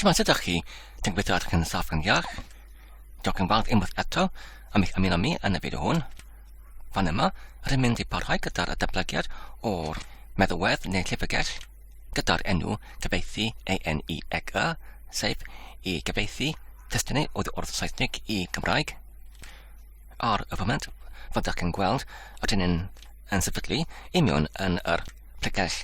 Siwmai sut ydych chi? Dwi'n gweithio ar chi'n saff yn iach. Diolch yn fawr unwaith eto am eich ymuno mi yn y fideo hwn. Fan yma, rydym mynd i parhau gyda'r datblygiad o'r meddwedd neu llyfrgell gyda'r enw gyfeithi ANEXA, sef i gyfeithi testynau oedd o'r Saesneg i Gymraeg. Ar y foment, fyddwch yn gweld rydyn yn sefydlu imion yn yr pregell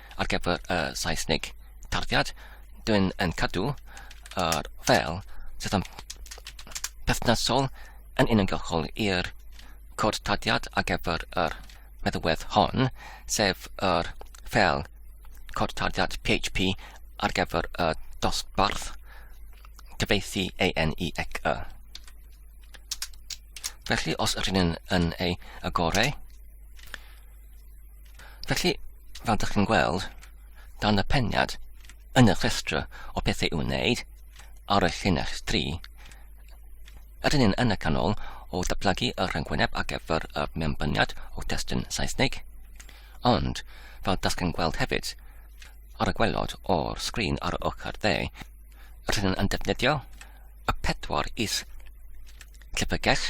ar gyfer y Saesnig tarddiad, dwi'n yn cadw yr fel sydd yn perthnasol yn uniongyrchol i'r cod tarddiad ar gyfer yr meddywedd hon, sef yr fel cod tarddiad PHP ar gyfer y dosbarth cyfeithi ANEXE. Felly, os rydyn yn ei agorau, Felly, fel ydych chi'n gweld, dan y peniad yn y rhestr o bethau i'w wneud ar y llinell 3, ydyn ni'n yn y canol o datblygu y rhyngwyneb ar gyfer y mewnbyniad o destun Saesneg, ond fel ydych chi'n gweld hefyd, ar y gwelod o'r sgrin ar y ochr dde, rydyn yn defnyddio y pedwar is llyfrgell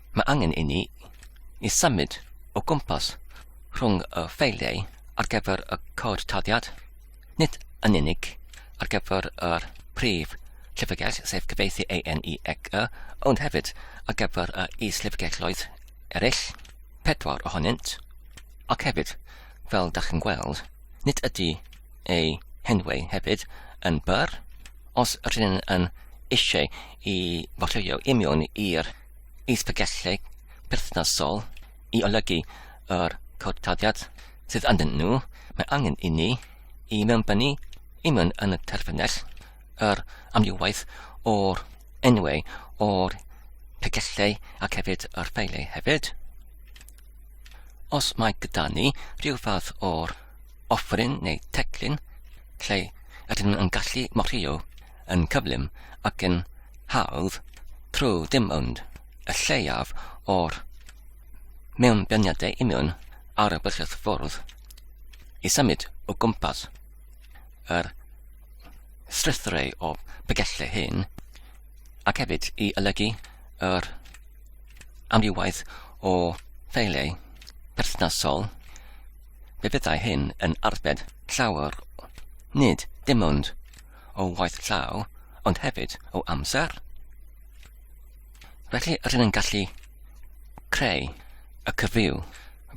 Mae angen inni i symud o gwmpas rhwng y ffeiliau ar gyfer y cod tarddiad, nid yn unig ar gyfer yr prif llyfrgell, sef cyfieithu AN i ec y, ond hefyd ar gyfer y is-lyfrgelloedd eraill, pedwar ohonynt, ac hefyd, fel da chi'n gweld, nid ydy eu henwau hefyd yn byr, os rydyn yn eisiau i fodleuo i mewn i'r isbygellid perthnasol i olygu yr cwrtariad sydd ynddyn nhw, mae angen inni i mewnbynnu i mewn yn y terfynell yr amrywaeth o'r enwau o'r pegellau ac hefyd yr ffeiliau hefyd. Os mae gyda ni rhyw fath o'r offrin neu teclyn lle ydyn nhw'n gallu morio yn cyflym ac yn hawdd trwy ddim ond y lleiaf o'r mewnbeniadau union ar y bysedd ffordd i symud o gwmpas yr strwythurau o bygellau hyn ac hefyd i olygu yr amrywaeth o ffeiliau perthnasol, fe fyddai hyn yn arbed llawer, nid dim ond o waith llaw, ond hefyd o amser. Felly rydyn yn gallu creu y cyfryw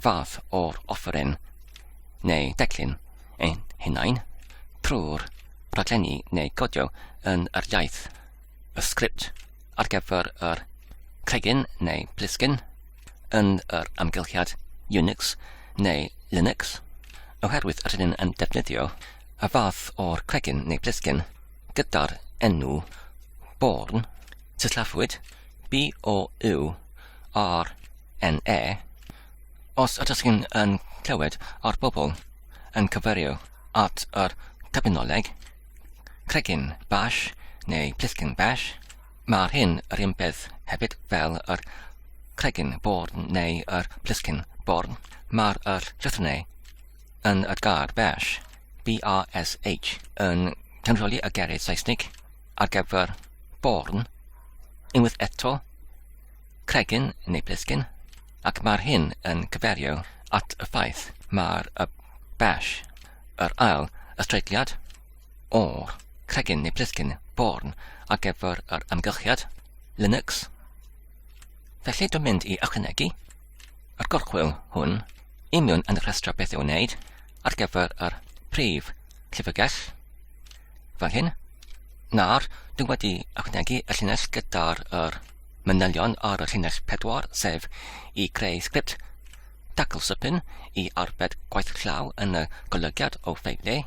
fath o'r offeryn neu declyn ein hunain trwy'r rhaglenni neu godio yn yr iaith, y sgript ar gyfer yr cregyn neu blisgyn, yn yr amgylchiad Unix neu Linux, oherwydd yr hyn yn defnyddio y fath o'r cregyn neu blisgyn gyda'r enw Born, sillafuwyd B-O-U-R-N-E, os ydych chi'n yn clywed ar bobl yn cyfeirio at yr terminoleg cregyn bash neu plisgyn bash, Mae'r hyn yr un peth hefyd fel yr cregyn born neu yr pliscyn born, mae'r yr llythrennau yn y gair bash, B-A-S-H, yn cynryli y geiriau Saesnig ar gyfer born, unwaith eto, cregyn neu blisgyn, ac mae'r hyn yn cyferio at y ffaith mae'r y bash, yr ail ystreitliad, o'r cregyn neu plisgyn born ar gyfer yr amgylchiad, Linux. Felly dwi'n mynd i ychwanegu yr gorchwyl hwn i mewn yn y rhestr beth i'w wneud ar gyfer yr prif llyfrgell fel hyn. Nawr, dwi'n wedi ychwanegu y llinell gyda'r er manylion ar y llinell pedwar, sef i greu sgript dacl sypyn i arbed gwaith llaw yn y golygiad o ffeiliau.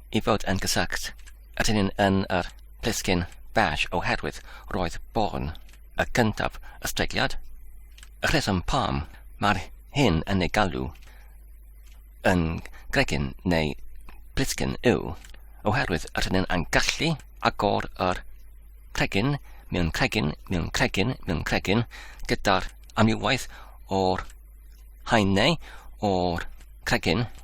i fod yn gysylltu â dyn yn yr plisgyn bach oherwydd roedd Bourne, y gyntaf y streigiad, y rheswm pam mae'r hyn yn ei galw yn gregyn neu blisgyn yw oherwydd yr hyn yn gallu agor yr cregyn mewn cregyn mewn cregyn mewn cregyn gyda'r amrywaeth o'r haenau o'r cregyn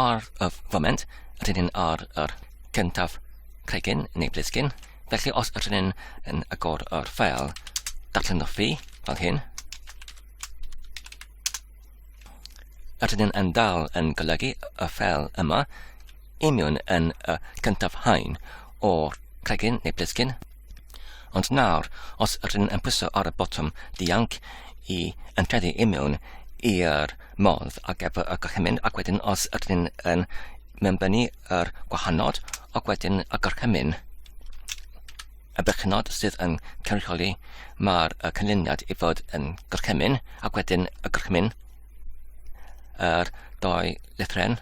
Ar y foment, rydyn ni'n ar yr cyntaf cregyn neu blisgyn, felly os ydyn ni'n yn agor yr ffeil datlenwfi fel hyn, ydyn ni'n yn dal yn golygu y ffeil yma i mewn yn y cyntaf hain o'r cregyn neu blisgyn Ond nawr, os rydyn yn pwyso ar y botwm dianc i enteddu i mewn i'r modd ar gyfer y gorchymyn ac wedyn os rydyn yn mewnbynnu yr gwahanod ac wedyn y gorchymyn y berchenod sydd yn cynrychioli mae'r cynlyniad i fod yn gorchymyn ac wedyn y gorchymyn yr doi lethren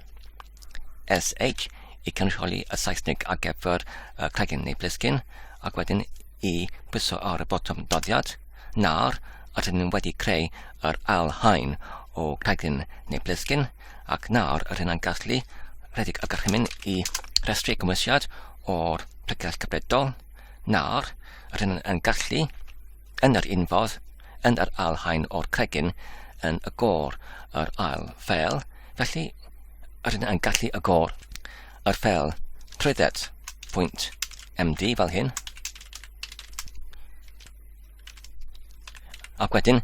SH i cynrychioli y Saesnig ar gyfer y cregyn neu blisgyn, ac wedyn i bwyso ar y botwm doddiad, nawr rydyn ni'n wedi creu yr ail haen o cregyn neu blisgyn, ac nawr rydyn ni'n gallu rhedeg y gorchymyn i restru cymwysiad o'r pregeth cyfredol, nawr rydyn ni'n gallu yn yr unfodd, yn yr alhaen o'r cregyn, yn y gor, yr ail fel, felly yr yna yn gallu y gor, yr fel, trwydded, pwynt, MD fel hyn. Ac wedyn,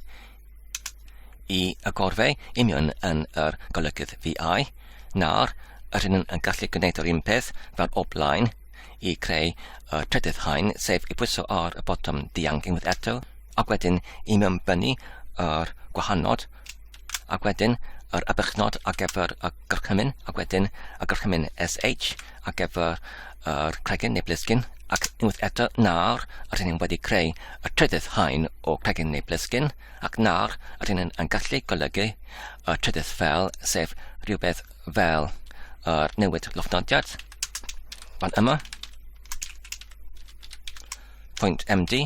i y gorfau union yn yr golygydd VI, nawr, yr hyn yn gallu gwneud yr un peth fel o blaen, i creu y trydydd haen, sef i bwyso ar y botwm dianc unwaith eto, ac wedyn i mewnbynnu yr gwahanod, ac wedyn yr abychnod ar gyfer y gorchymyn, ac wedyn y gorchymyn SH ar gyfer yr cregyn neu blisgyn, ac unwaith eto nawr yr hyn wedi creu y trydydd haen o cregyn neu blisgyn, ac nawr yr hyn yn gallu golygu y trydydd fel, sef rhywbeth fel uh, newid llofnodiad fan yma pwynt MD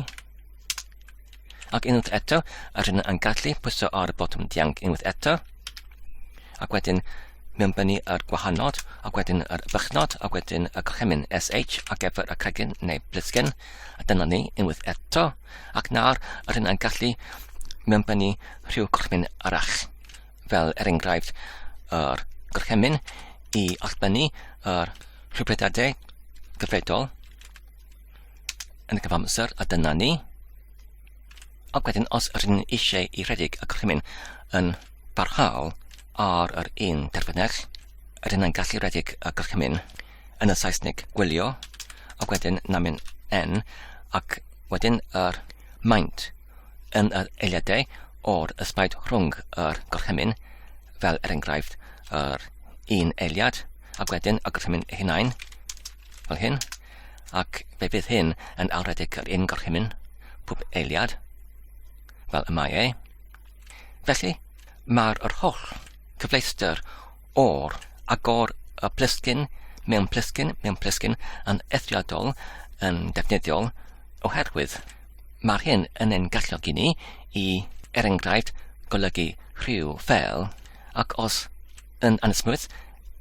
ac unwaith eto yr hyn yn gallu pwyso ar y botwm dianc unwaith eto ac wedyn mewn bennu yr gwahanod ac wedyn yr bychnod ac wedyn y gorchymyn SH ac efo'r y cregyn neu blisgen a dyna ni unwaith eto ac nawr yr hyn yn gallu mewn bennu rhyw gorchymyn arach fel er enghraifft yr gorchymyn i allbynnu yr rhybudadau gyfredol yn y cyfamser a dyna ni. Ac wedyn os rydyn ni eisiau i rhedeg y gorchymyn yn barhaol ar yr un terfynell, rydyn ni'n gallu rhedeg y gorchymyn yn y Saesneg gwylio ac wedyn namin n ac wedyn yr maint yn yr eiliadau o'r ysbaid rhwng yr gorchymyn, fel er enghraifft yr un eiliad, ac wedyn y gorchymyn ei hunain, fel hyn, ac fe fydd hyn yn awredig yr un gorchymyn, pob eiliad, fel y mae ei. Felly, mae'r yr holl cyfleuster o'r agor y plysgyn mewn plysgyn mewn plysgyn yn eithriadol yn defnyddiol oherwydd Mae'r hyn yn ein galluogi ni i, er enghraifft, golygu rhyw fel, ac os yn anesmwyth,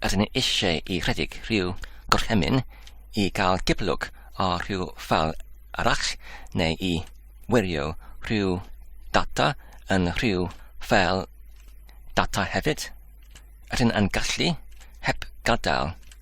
yr hyn eisiau i rhedeg rhyw gorchymyn i gael cipolwg o rhyw fel arall neu i wirio rhyw data yn rhyw fel data hefyd. Yr hyn yn gallu, heb gadael,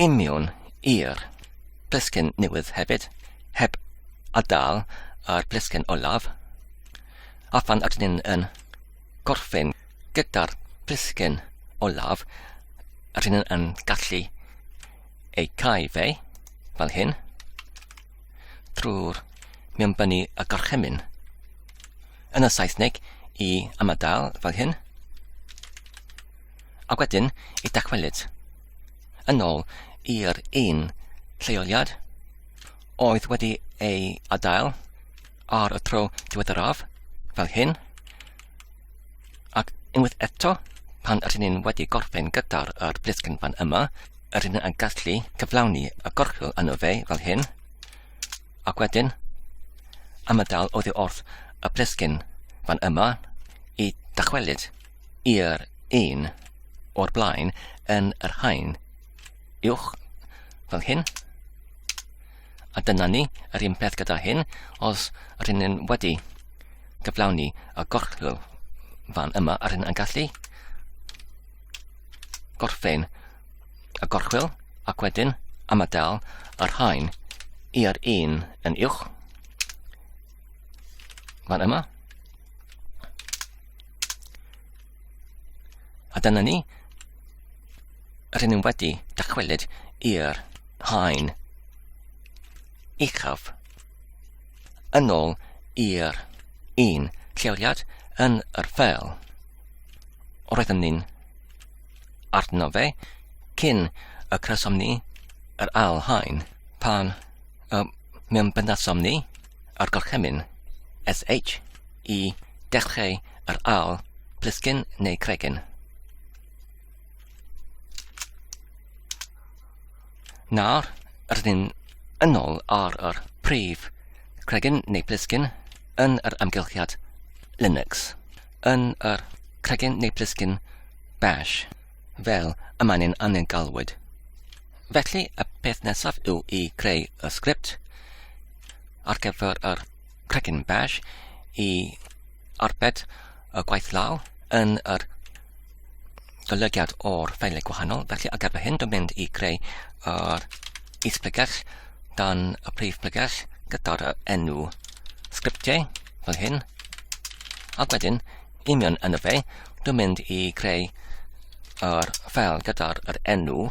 Imiwn i'r plisgyn newydd hefyd, heb adael a'r plisgyn olaf. A phan ydyn ni'n yn gorffen gyda'r plisgyn olaf, ydyn ni'n yn gallu ei cael fe, fel hyn, drwy'r mewnbynnu y gorchymyn. Yn y Saesneg, i ymadael, fel hyn. Ac wedyn y dychwelyd yn ôl i'r un lleoliad oedd wedi ei adael ar y tro diweddaraf, fel hyn, ac unwaith eto, pan rydyn ni'n wedi gorffen gyda'r er blisgyn fan yma, rydyn ni'n gallu cyflawni y gorchwyl yno fe, fel hyn, ac wedyn, am y dal oedd wrth y blisgyn fan yma i dychwelyd. i'r un o'r blaen yn yr haen uwch fel hyn. A dyna ni, yr un peth gyda hyn, os rydyn ni'n wedi gyflawni y gorchwyl fan yma, a rydyn yn gallu gorffen y gorchwyl ac wedyn ymadael yr haen i'r un yn uwch fan yma. A dyna ni. Rydyn ni wedi dychwelyd i'r haen uchaf yn ôl i'r un lleoliad yn yr ffeil. Roeddwn ni'n arno fe cyn y crysom ni yr ail haen pan y mewn byndasom ni a'r gorchymyn, SH, i dechreu yr awl, plisgyn neu cregyn. Nawr, rydyn ni'n yn ôl ar yr prif cregyn neu plisgyn yn yr amgylchiad Linux, yn yr cregyn neu plisgyn bash, fel y mae'n ein angen galwyd. Felly, y peth nesaf yw i greu y sgript, ar gyfer yr Cregyn Bash i arbed y gwaith law yn yr golygiad o'r ffeiliau gwahanol. Felly ar gyfer hyn, dwi'n mynd i greu yr is-pregell dan y prif pregell gyda'r enw sgriptiau fel hyn. Ac wedyn, union yn y fe, dwi'n mynd i greu yr ffeil gyda'r enw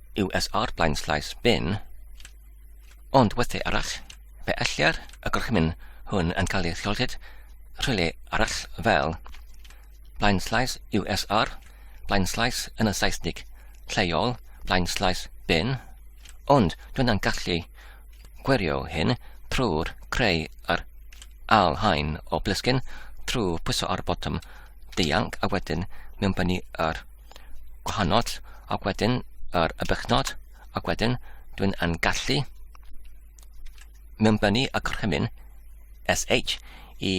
USR blaenslaes bin, ond weithiau arall, fe ellir y gorchymyn hwn yn cael ei chyllid rhywle arall fel blaenslaes USR, blaenslaes yn y Saesnig lleol, blaenslaes bin, ond dwi'n yn gallu gwirio hyn trwy'r creu yr al hain o blisgyn trwy pwyso ar y botwm dianc a wedyn mewnbynnu yr gwahanol ac wedyn yr y bychnod ac wedyn dwi'n yn gallu mewnbynnu y gorchymyn SH i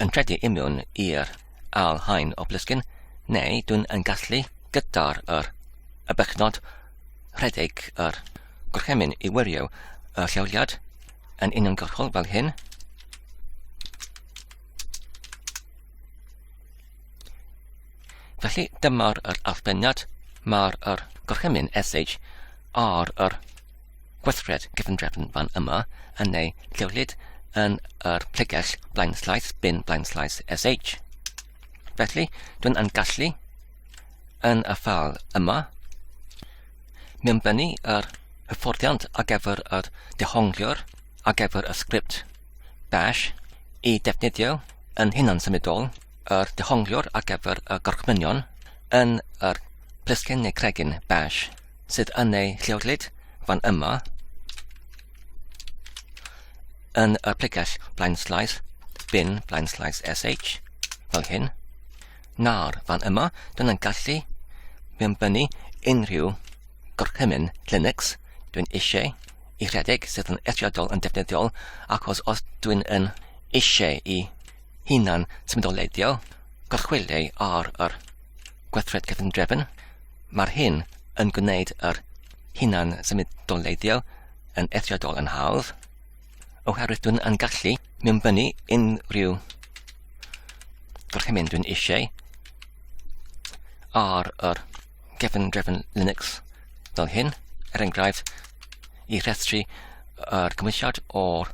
yn credu i mewn i'r al hain o blisgyn neu dwi'n yn gallu gyda'r yr y bychnod rhedeg yr gorchymyn i wirio y lleoliad yn uniongyrchol fel hyn Felly dyma'r yr allbeniad, mae'r yr gorchymyn SH ar yr gweithred gefndrefn fan yma yn ei llewlid yn yr plegell blaen slaes, bin blaen slaes SH. Felly, dwi'n yn gallu yn y ffal yma mewnbynnu yr hyfforddiant ar gyfer yr dehongliwr ar gyfer y sgript bash i defnyddio yn hunan symudol yr dehongliwr ar gyfer y gorchmynion yn yr plisgyn neu cregyn bash sydd yn ei llewglyd fan yma yn y pregell blaen slaes bin blaen slaes sh fel hyn nawr fan yma dyna'n gallu mewnbynnu unrhyw gorchymyn Linux dwi'n eisiau i rhedeg sydd yn eithriadol yn defnyddiol achos os dwi'n yn eisiau i hunan symudoledig, gorchwyliau ar yr gweithred cyfundrefn. Mae'r hyn yn gwneud yr hunan symudoledig yn eithriadol yn hawdd, oherwydd dwi'n yn gallu mewnbynnu unrhyw gorchymyn dwi'n eisiau ar yr gefn drefn Linux fel hyn, er enghraifft, i rhestru yr cymwysiad o'r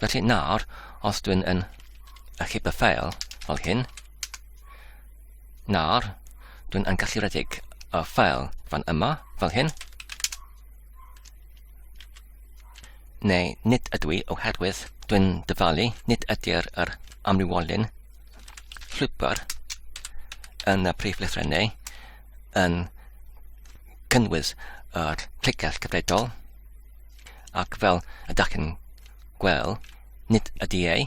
Felly nawr, os dwi'n yn achub y ffeil fel hyn, nawr dwi'n yn gallu redeg y ffeil fan yma fel hyn, neu nid ydw i oherwydd dwi'n dyfalu nid ydy'r yr amrywolyn llwybr yn y prif lythrennau yn cynnwys yr clicell gyfredol Ac fel y dach chi'n gwel, nid ydy ei,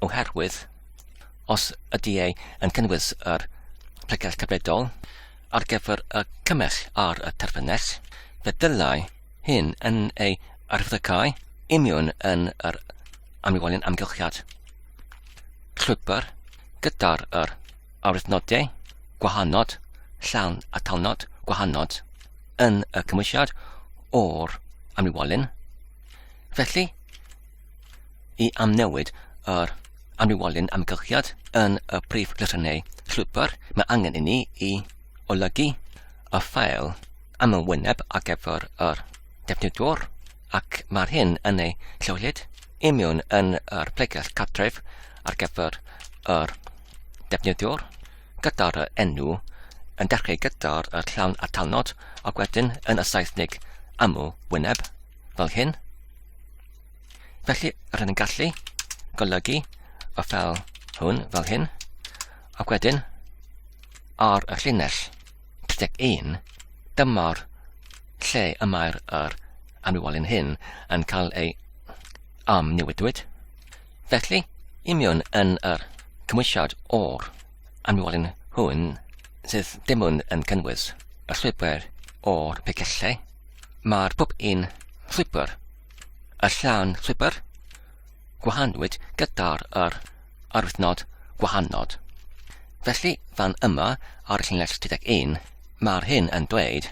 oherwydd os ydy ei yn cynnwys yr pregeth cyfredol ar gyfer y cymell ar y terfynell, fe ddylai hyn yn ei arfyddycau imiwn yn yr amlwolyn amgylchiad llwybr gyda'r yr arwyddnodau gwahanod llawn atalnod gwahanod. yn y cymwysiad o'r amrywolyn. Felly, i amnewid yr amrywolyn amgylchiad yn y prif lythrynnau llwybr, mae angen i ni i olygu y ffael am y wyneb ar gyfer yr defnyddwr ac mae'r hyn yn ei lleoliad imiwn yn yr pregell cartref ar gyfer yr defnyddwr. gyda'r enw yn dechrau gyda'r llawn atalnod ac wedyn yn y Saesneg aml wyneb, fel hyn. Felly, rydyn ni'n gallu golygu y ffel hwn fel hyn, ac wedyn ar y llinell 31, dyma'r lle y mae'r er amrywiolyn hyn yn cael ei amnewidwyd. Felly, imiwn yn yr cymwysiad o'r anwolyn hwn sydd dim ond yn cynnwys y llwybr o'r pegellau, mae'r pob un llwybr, y llawn llwybr, gwahanwyd gyda'r yr arwythnod gwahanod. Felly, fan yma ar y llinell 31, mae'r hyn yn dweud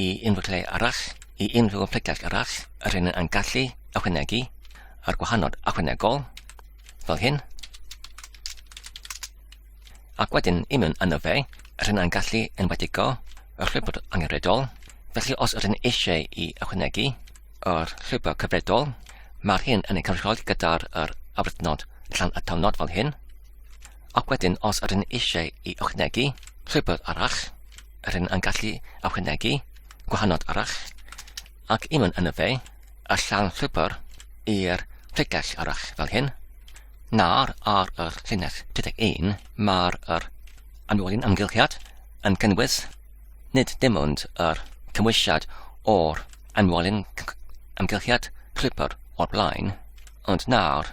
i unrhyw lle arall, i unrhyw oblygiad arall, yr hyn yn gallu ychwanegu a'r gwahanol ychwanegol, fel hyn. Ac wedyn i mewn yno fe, yr hyn yn gallu enwedigo y llwybr angenredol, felly os yr hyn eisiau i ychwanegu yr llwybr cyfredol, mae'r hyn yn ei cynrychioli gyda'r afrydnod llan atalnod fel hyn, Ac wedyn os yr yn eisiau i ychwanegu llwybr arall, yr yn yn gallu ychwanegu gwahanod arall, ac i mynd yn y fe, y llan llwybr i'r llyglell arall fel hyn. Nawr ar yr llinell 31 mae'r yr anwolyn amgylchiad yn cynnwys nid dim ond yr cymwysiad o'r anwolyn amgylchiad llwybr o'r blaen, ond nawr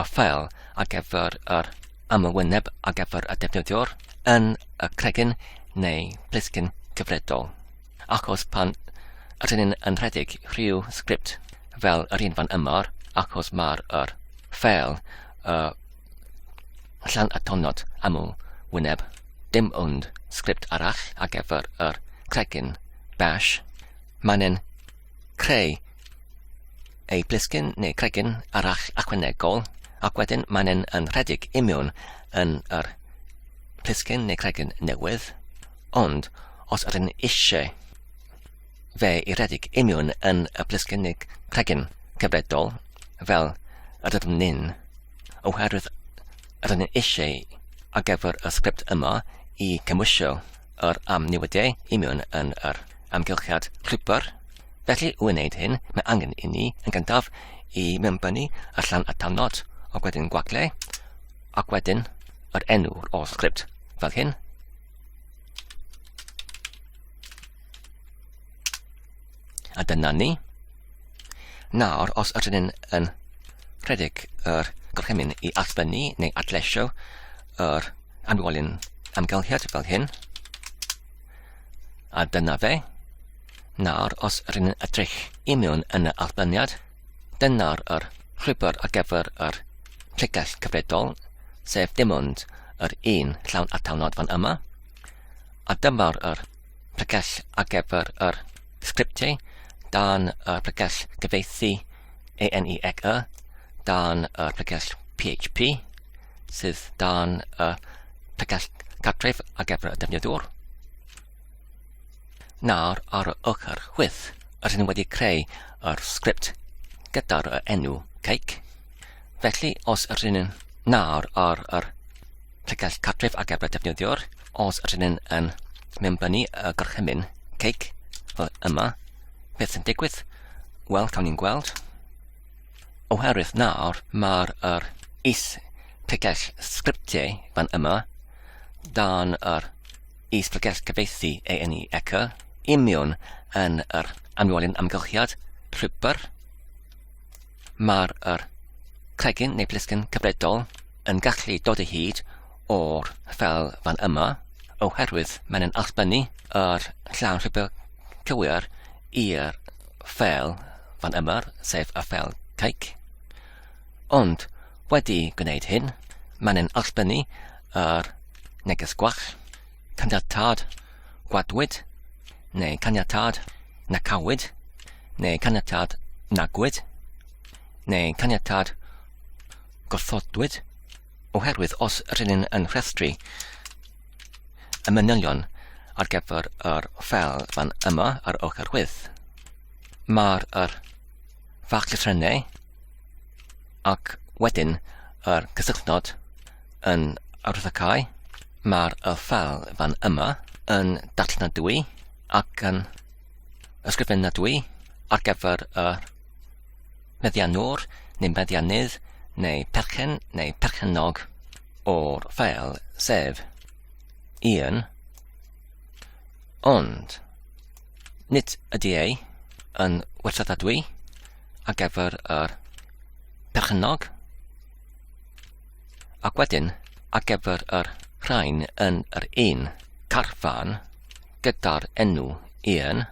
y ffeil ar gyfer yr ymwyneb ar gyfer y defnyddiwr yn y cregyn neu blisgyn cyfredol. Achos pan ydyn ni'n yn rhedeg rhyw sgript fel yr un fan yma, achos mae'r er ffeil y llan atonod amw wyneb, dim ond sgript arall ar gyfer yr cregyn bash, mae'n creu ei blisgyn neu cregyn arall ychwanegol, ac wedyn mae'n yn, yn rhedeg i mewn yn yr plisgyn neu cregyn newydd, ond os ydyn eisiau fe i redeg i mewn yn y plisgyn neu cregyn cyfredol, fel ydym ni'n, oherwydd ydyn ni'n eisiau ar gyfer y sgript yma i cymwysio yr amnewidiau i mewn yn yr amgylchiad rhwybr, Felly, i wneud hyn, mae angen inni, yn gyntaf, i mewnbynnu y llan atalnod, ac wedyn gwagle, ac wedyn yr enw o'r sgript, fel hyn. A dyna ni. Nawr, os ydyn ni'n yn rhedeg yr gorchymyn i allfynnu neu adleisio yr anwolyn amgylchiad fel hyn, a dyna fe, Nawr, os rŷn yn edrych i mewn yn y allbyniad, dyna'r yr llwybr ar gyfer yr pregeth cyfredol, sef dim ond yr un llawn atalnod fan yma, a dyma'r yr pregeth ar gyfer yr sgriptiau dan y pregeth gyfeithi ANEXE, dan y pregeth PHP, sydd dan y pregeth cartref ar gyfer y defnyddwr. Nawr ar y ochr chwith, rydyn wedi creu yr sgript gyda'r enw cake. Felly, os rydyn yn nawr ar yr llygaid cartref ar gyfer defnyddiwr, os rydyn yn yn mewnbynnu y gorchymyn cake fel yma, beth sy'n digwydd? Wel, cawn ni'n gweld. Oherwydd nawr, mae'r er is tegell sgriptiau fan yma dan yr i sbregell gyfieithu ei eni eco i miwn yn yr amlwolyn amgylchiad rhybr. Mae'r yr cregyn neu blisgyn cyfredol yn gallu dod o hyd o'r fel fan yma oherwydd mae'n yn allbynnu yr llawn rhybr cywir i'r fel fan yma, sef y fel caic. Ond, wedi gwneud hyn, mae'n ein allbynnu yr neges gwell, caniatâd gwadwyd, neu caniatâd nacawyd, neu caniatâd nagwyd, neu caniatâd gorfodwyd, oherwydd os rydyn ni'n yn rhestru y manylion ar gyfer yr ffel fan yma ar ochr chwith, mae'r fach llythrennau ac wedyn yr cysylltnod yn arwyddocau. Mae'r y ffel fan yma yn darllenadwy ac yn ysgrifenadwy ar gyfer y meddiannwr neu meddiannydd neu perchen neu perchennog o'r ffel sef un ond Nid ydy ei yn werthadadwy ar gyfer yr perchennog ac wedyn ar gyfer yr rhain yn yr un carfan gyda'r enw un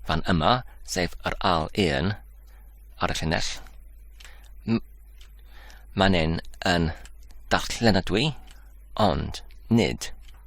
fan yma, sef yr al un ar y llinell. Mae'n yn darllenadwy, ond nid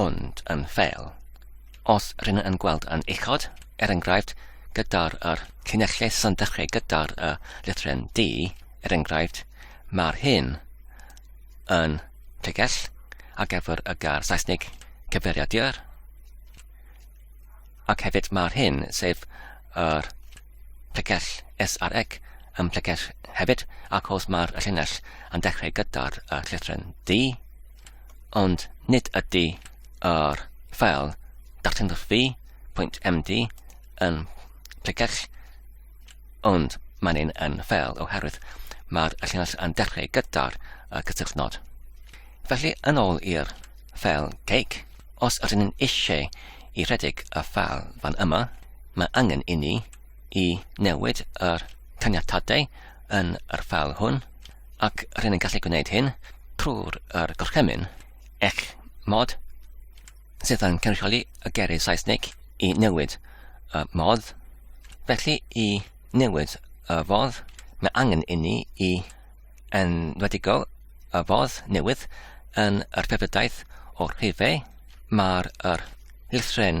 ond yn fel, os rŷn yn gweld yn uchod, er enghraifft, gyda'r yr llinellau sy'n dechrau gyda'r y lythren D, er enghraifft, mae'r hyn yn pregell ar gyfer y gair Saesneg cyfeiriadur, ac hefyd mae'r hyn, sef yr pregell S ar ec, yn pregell hefyd, ac os mae'r llinell yn dechrau gyda'r y llythren D, ond nid ydy yr ffeil darllenwchfi.md yn pregach, ond mae'n un yn ffeil oherwydd mae'r llinell yn dechrau gyda'r cysylltnod. Felly, yn ôl i'r ffeil cake, os ydyn ni'n eisiau i rhedeg y ffeil fan yma, mae angen i ni i newid yr caniatadau yn yr ffeil hwn ac rydyn ni'n gallu gwneud hyn trwy'r er gorchymyn eich mod sydd yn cynrychioli y gerydd Saesnig i newid y modd. Felly i newid y fodd, mae angen inni i enwedigo y fodd newydd yn yr ffefrydaeth o'r rhifau. Mae'r er llythren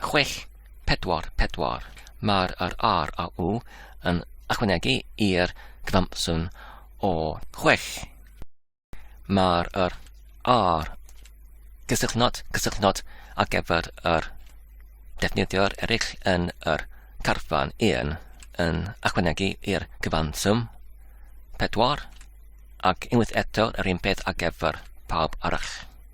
chwech, pedwar, pedwar. Mae'r yr R a U yn ychwanegu i'r cyfanswm o chwech. Mae'r yr R gysylltnod, cysylltnod ar gyfer yr defnyddio'r eraill yn yr carfan 1 yn ychwanegu i'r cyfanswm 4 ac unwaith eto yr un peth ar gyfer pawb arall.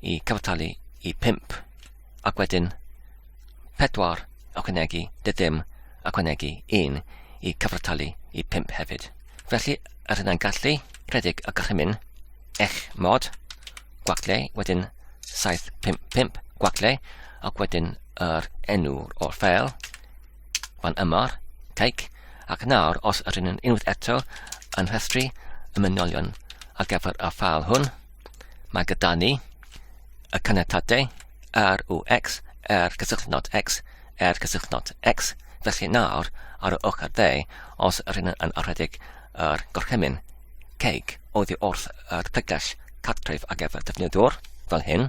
i cyfartalu i 5, ac wedyn 4 ychwanegu dy ddim ychwanegu 1 i cyfartalu i 5 hefyd. Felly, yr hyn a'n gallu, rhedeg y gorchymyn, eich mod, gwagle, wedyn 755 gwagle, ac wedyn yr enw o'r ffeil, fan yma'r caic, ac nawr os yr yn unwaith eto yn rhestru y mynolion ar gyfer y ffeil hwn, Mae gyda ni y caniatadau r u x, r cysylltnod x, r cysylltnod x. Felly nawr, ar y ochr dde, os yr hyn yn arhedig yr gorchymyn ceg oddi wrth yr pregell cartref ar gyfer defnyddiwr, fel hyn,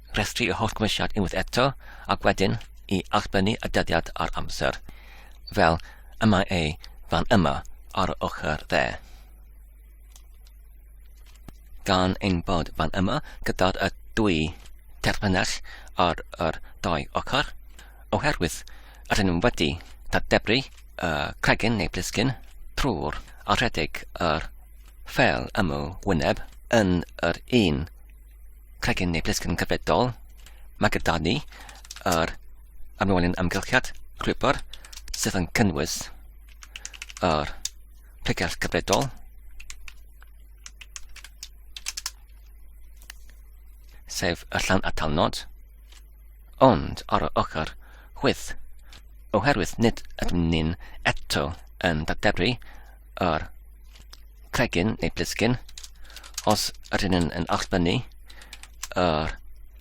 rhestru y holl gymwysiad unwaith eto, ac wedyn i allbynnu y dyddiad a'r amser, fel y mae ei fan yma ar y ochr dde. Gan ein bod fan yma gyda'r y dwy terfynell ar yr dau ochr, oherwydd rydyn nhw'n wedi dadebru y cregyn neu blisgyn trwy'r a rhedeg yr ffel ymw wyneb yn yr un Cregyn neu blisgyn cyfredol, mae gyda ni yr amlwylyn amgylchiad rhywbr sydd yn cynnwys yr pregell cyfredol, sef y llan atalnod, ond ar y ochr chwyth, oherwydd nid ydym ni'n eto yn dadebru yr cregyn neu blisgyn os ydyn nhw'n yn allbynnu yr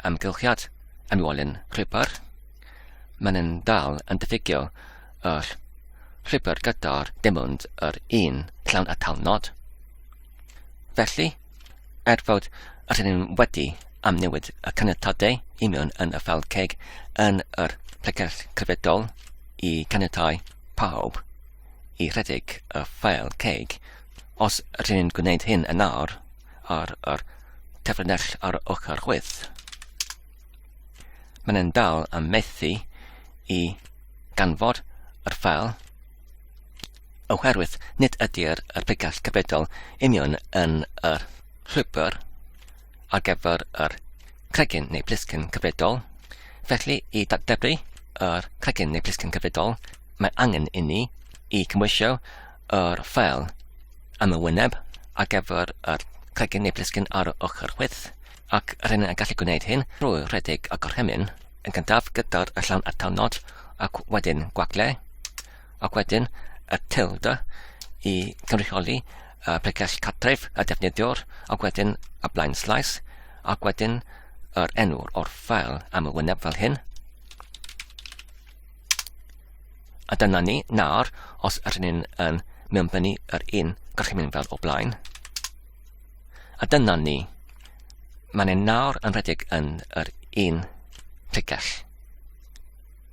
amgylchiad am walyn rhipper. Mae'n yn dal yn diffygio yr rhipper gyda'r dim ond yr un llawn a tal nod. Felly, er fod ydyn nhw'n wedi am newid y caniatadau i mewn yn y fel ceg yn yr plegell cyfredol i caniatau pawb, i redeg y ffeil ceg, os rŷn ni'n gwneud hyn yn awr, ar yr tefrynell ar y ochr chwith. Mae'n yn dal am methu i ganfod yr ffeil, oherwydd nid ydy'r pregall cyfredol union yn yr llwybr, ar gyfer yr cregyn neu blisgyn cyfredol. Felly, i datblygu yr cregyn neu blisgyn cyfredol, mae angen inni i cymwysio yr ffeil am y wyneb ar gyfer yr cregyn neu blisgyn ar y ochr chwith, ac yr hyn yn gallu gwneud hyn drwy rhedeg y gorchymyn yn gyntaf gyda'r llawn atalnod ac wedyn gwagle, ac wedyn y tilde i gynrychioli y pregeth cartref y defnyddiwr, ac wedyn y blaen slaes, ac wedyn yr enw o'r ffeil am y wyneb fel hyn. A dyna ni, nawr, os ydyn ni'n yn mewnbynnu yr un gorchymyn fel o blaen. A dyna ni, mae'n ein nawr yn rhedeg yn yr un tegell.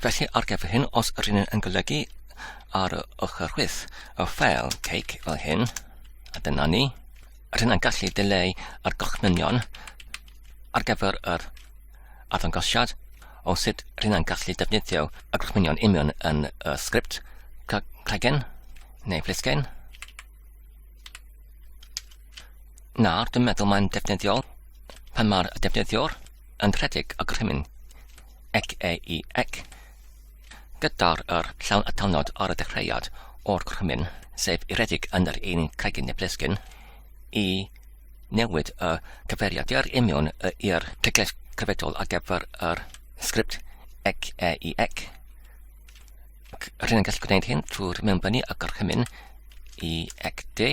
Felly ar gyfer hyn, os yr un yn golygu ar y ochr chwith y ffeil cake fel hyn, a dyna ni, a hynna'n gallu dileu ar gorchmynion ar gyfer yr arddangosiad o sut hynna'n gallu defnyddio y gorchmynion union yn y sgript cragen neu flisgen. Nawr, dwi'n meddwl mae'n defnyddiol pan mae'r defnyddiwr yn rhedeg y gorchymyn ec ei ec, gyda'r yr llawn atalnod ar y dechreuad o'r gorchymyn, sef iredig yn yr un cregyn neu blesgyn, i newid y cyfeiriad i'r imiwn i'r cegles cyfedol ar gyfer yr sgript ec ei ec. Rydyn yn gallu gwneud hyn trwy'r mewnbynnu y gorchymyn i ec d,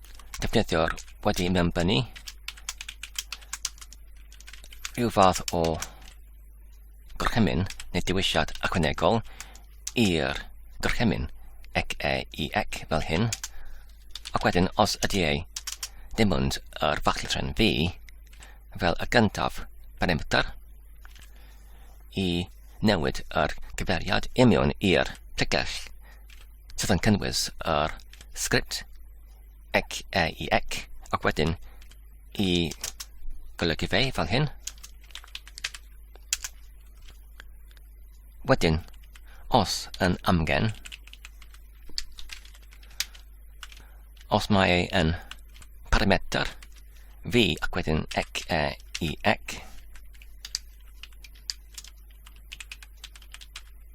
defnyddio'r wedi mewnbynnu rhyw fath o gorchymyn neu dewisiad ychwanegol i'r gorchymyn ec e i ec fel hyn ac wedyn os ydy ei ddim ond yr fachlitren fi fel y gyntaf parameter i newid yr gyferiad imiwn i'r pregell sydd yn cynnwys yr sgript ec e i ec ac wedyn i golygu fe fan hyn. Wedyn, os yn amgen, os mae ei yn parameter fi ac wedyn ec e i ec.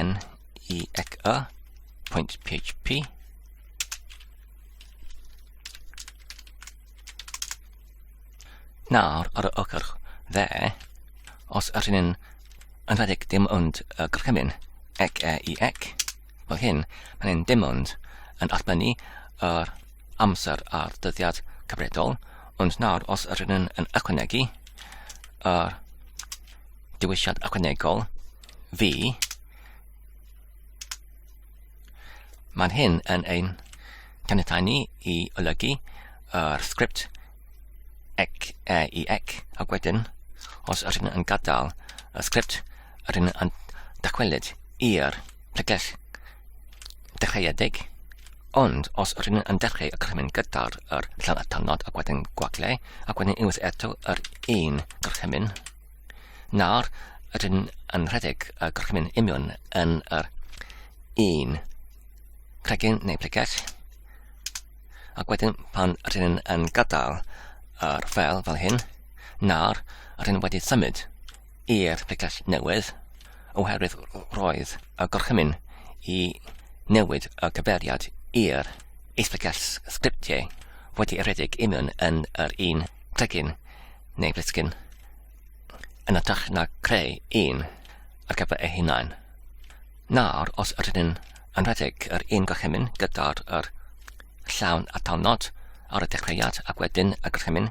en i ec y pwynt php Nawr, ar y ochr dde, os ydych chi'n yn rhedeg dim ond y gorchymyn ec e i ec, fel hyn, mae'n hyn dim ond yn allbynnu yr amser a'r dyddiad cyfredol, ond nawr os ydych chi'n yn ychwanegu yr dewisiad ychwanegol fi, mae'n hyn yn ein caniatau ni i olygu yr sgript ec e i ec ac wedyn os ydyn yn gadael y sgript ydyn yn dachwelyd i'r pregeth dechreuedig, ond os rydyn yn dechreu y gorchymyn gyda'r yr llawn atalnod ac wedyn gwagle, ac wedyn unwaith eto yr un gorchymyn, nawr rydyn yn rhedeg y gorchymyn union yn yr un cregyn neu pregeth, ac wedyn pan rydyn yn gadael yr fel fel hyn, nawr rydyn wedi symud i'r pegell newydd, oherwydd roedd y gorchymyn i newid y cyfeiriad i'r isbegell sgriptiau wedi ei rhedeg i mewn yn yr un cregyn neu blisgyn yn ytrach na creu un ar gyfer ei hunain. Nawr, os yr ydyn yn rhedeg yr un gorchymyn gyda'r yr llawn atalnod ar y dechreuad ac wedyn y gorchymyn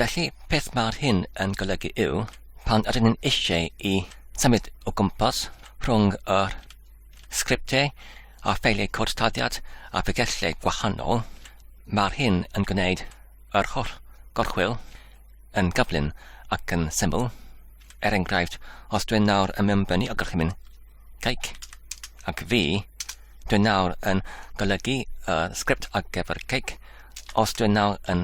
Felly, peth mae'r hyn yn golygu yw, pan ydyn ni'n eisiau i symud o gwmpas rhwng yr sgriptiau a ffeiliau cod taddiad a phegellau gwahanol, mae'r hyn yn gwneud yr holl gorchwyl yn gyflym ac yn syml. Er enghraifft, os dwi'n nawr yn mewnbynnu o gorchymyn Cake. Ac fi, dwi'n nawr yn golygu y sgript ar gyfer cake os dwi'n nawr yn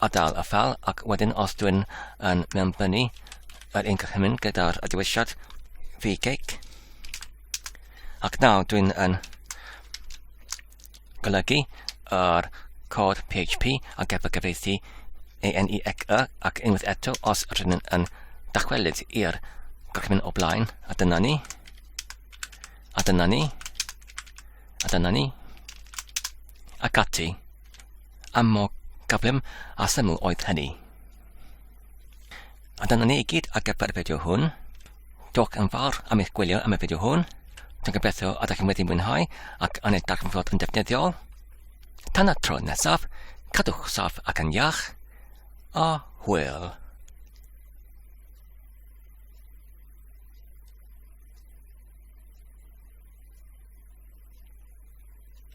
adael y ffel ac wedyn os dwi'n yn mewnbynnu yr un cychymyn gyda'r dewisiad fi cake. Ac nawr dwi'n yn golygu yr cod PHP a gefn gyfeithi ENIAC-E ac unwaith eto os rydyn nhw'n yn dychwelyd i'r gorchymyn o blaen a dyna ni a dyna ni a dyna ni ac ati a mor gyflym a syml oedd hynny. A dyna ni i gyd ar gyfer y fideo hwn. Diolch yn fawr am eich gwylio am y fideo hwn. Dwi'n gobeithio a ydych chi'n wedi mwynhau ac yn ei darganfod yn defnyddiol. Tan y tro nesaf, cadwch saff ac yn iach, a hwyl.